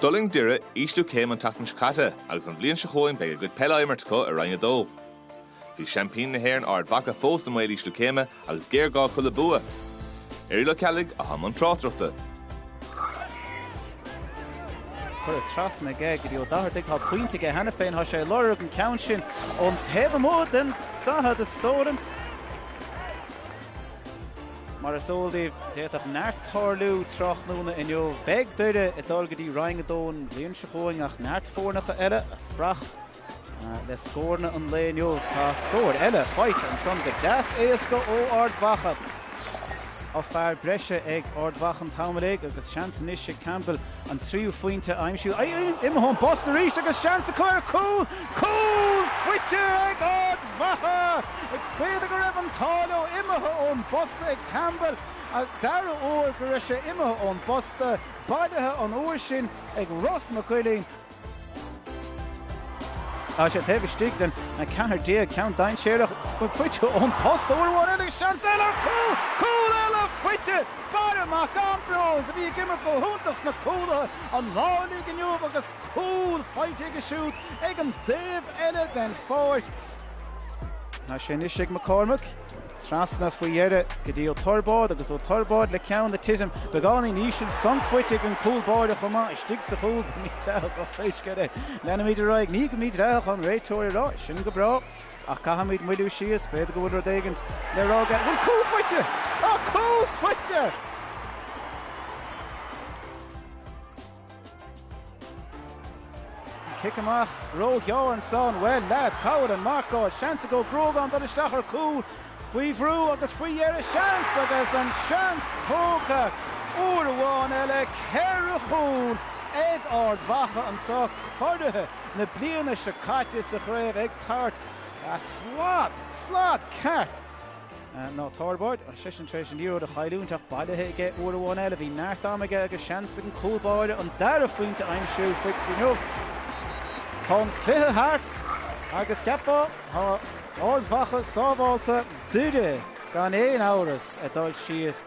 D'fhulaing Doire ísliú céime an tseachtain seo caite agus an bhliain seo chugainn beidh a gcuid peile á imirt acu i Roinn 2. Bhí seaimpíní na hÉireann Ard Mhacha fós i mbaol ísliú céime agus géarghá acu le bua. Irial Ó Ceallaigh atá i mbun tráchtaireachta. Curtha trasna aige go dtí Ó Dochartaigh, tá pointe aige cheana féin, tá sé ag lorg an ceann sin ón taobh amuigh den 40 is dóigh liom. Mar is eol daoibh, d'fhéadfadh neart tarlú tráthnóna inniu. Beidh Doire ag dul go dtí Roinn 2 an bhliain seo chugainn ach neart foirneacha eile ag fuireach le scóranna an lae inniu. Tá scór eile faighte ansan go deas éasca ó Ard Mhacha. Tá fear breise ag Ard Mhacha an t-am uilig agus seans anois ag Campbell an tríú phointe a aimsiú. Imithe ón bposta arís agus seans acu ar chúl. Cúl faighte ag Ard. Mhacha. B'fhéidir go raibh an t-ádh leo imithe ón bposta ag Campbell an dara huair go raibh sé imithe ón bposta, bailithe an uair sin ag Ross Mac Uighilín. Tá sé taobh istigh den 14 ceann dainséarach faighte ón bposta uair amháin eile agus seans eile ar chúl, cúl eile faighte! Barra Mac Ambróis a bhí ag imirt go hiontach sna cúlaithe an lá uilig inniu agus. Cúl faighte aige siúd ag an dtaobh eile den pháirc. Tá sé anois ag Mac Cormaic. Trasna faoi dheireadh go dtí Ó Toirbáid agus Ó Toirbáid le ceann ag titim beagáinín íseal, sonc faighte ag an gcúl báire chomh maith. Istigh sa chúl go mídhleathach pé scéal é. Leanfaimid ar aghaidh. Ní go mídhleathach an réiteoir ag rá. Sin go breá. Ach caithfimid moilliú síos. B'fhéidir go bhfuil rud éigin le rá aige. Bhuel, cúl faighte! Tá cúl faighte! Cic amach ró-ghearr ansan. Bhuel, leaids, cá bhfuil an marcáil? Seans ag Ó Gruagáin dul isteach ar cúl. Faoi bhrú agus faoi dheireadh seans agus an seans tógtha uair amháin eile. Ceithre chúl ag Ard Mhacha anso, curaithe na bliana seo caite sa chraobh ag tabhairt slad, slad ceart, Ó Toirbáid, is eisean tar éis an liathróid a chailliúint, ach bailithe aige uair amháin eile, bhí neart ama aige agus seans ag an gcúl báire an dara phointe a aimsiú faoi inniu. Tá an cluiche thart agus cheapfá, tá Ard Mhacha sábhálta, Doire gan aon amhras, ag dul síos.